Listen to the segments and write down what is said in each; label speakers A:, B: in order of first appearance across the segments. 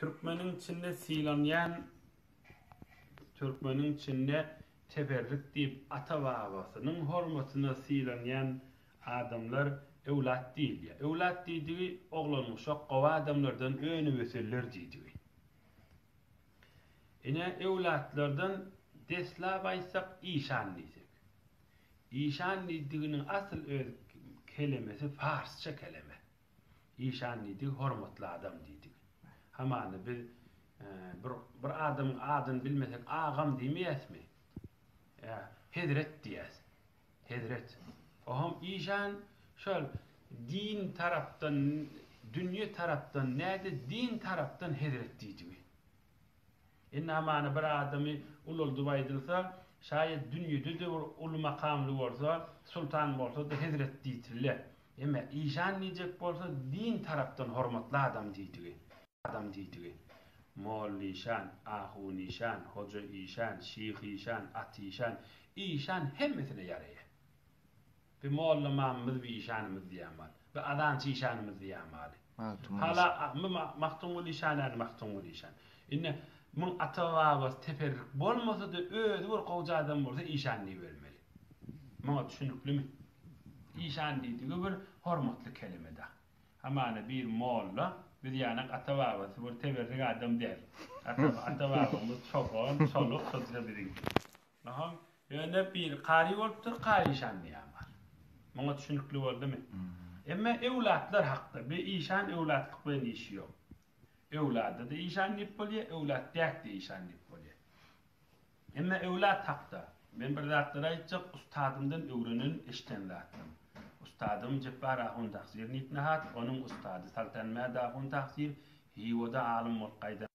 A: Türkmeniň içinde sylanýan Türkmeniň içinde teberrük diýip ata-babasynyň hormatyna sylanýan adamlar öwlat diýilýär. Öwlat diýdigi oglanuşak gowy adamlardan önüp-ösenler diýdigi. Ine, öwlatlardan deslap aýtsak işan diýsek. Işan diýdiginiň asyl öz kelemesi parsça keleme. Işan diýdi, Hormatly adam diýdi. Hamana biz bir bir adamyň adyny bilmesek agam diýmeýäsmi? Ýa, hezret diýýäs. Hezret. Oňam işan şol din tarapdan, dünýe tarapdan näde din tarapdan hezret diýdigi. Indi hamana bir adamy ulaldyp aýdylsa, şaýat dünýede-de bir uly makamly bolsa, sultan bolsa-da hezret diýsildi. Emma işan diýjek bolsa, din tarapdan hormatly adam diýdigi. Mollaişan, ahunişan, hojaişan, şyhyşan, atyşan, işan hemmesine ýaraýar. Bi molla mamymyz bi işanymyz diýýän mal. Bi azançy işanymyz diýýän maly. Hala bi Magtymguly işan ýaly Magtymguly işan. Indi muň ata-babasy teperrik bolmasa-da özi bir gowja adam bolsa işan diýibermeli. Muňa düşüniklimi? Işan diýdigi bir hormatly kelime-dä. Hamana bir molla biz ýanak ata-babasy bir teberrik adam däl. Ata-babamyz çoban, çoluk şo-da biziňki. Ynham, ýöne biri kary bolupdyr, kary işandy ýa bar. Muňa düşünikli boldumy? Emma öwlatlar hakda, bi işan öwlatlyk bilen işi ýok. Öwlada-da işan diýip bolýa, öwlat däk-de işan diýip bolýa. Emma öwlat hakda, men bir zatlar aýtjak, ustadymdan öwrenen, eşden zatym. Ustadym Jepbar ahun Tagsyr Nitnihat, onuň ustady Saltanmäd ahun Tagsyr, Hiwada alym bolup gaýdan.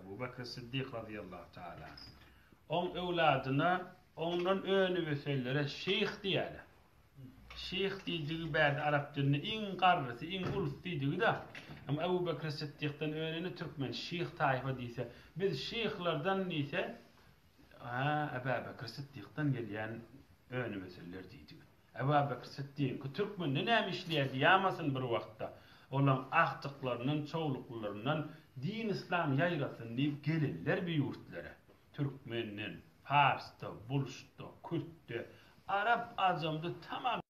A: Abu Bekr Siddik razyýallahu taala anh. Oň öwladyna oňdan önübösenlere şeýh diýýärler. Şeýh diýdigi bärde arap dilinde iň garrysy, iň ulus diýdigi-de. Emma Abu Bekr Siddikden önüne türkmen şeýh taýfa diýse, biz şeýhlerden diýse, Ä-Ä Bekr Siddikden gelýän önübösenler diýdigi. Ebabekr Sytdyky türkmende näme işleýärdi ýamasyn bir wagtda. Olaň agtyklaryndan, çowluklylaryndan din yslam ýaýrasyn diýip gelenler bi ýurtlara. Türkmenden, parsda, bulşda, kürtde, arap-ajamda tamam.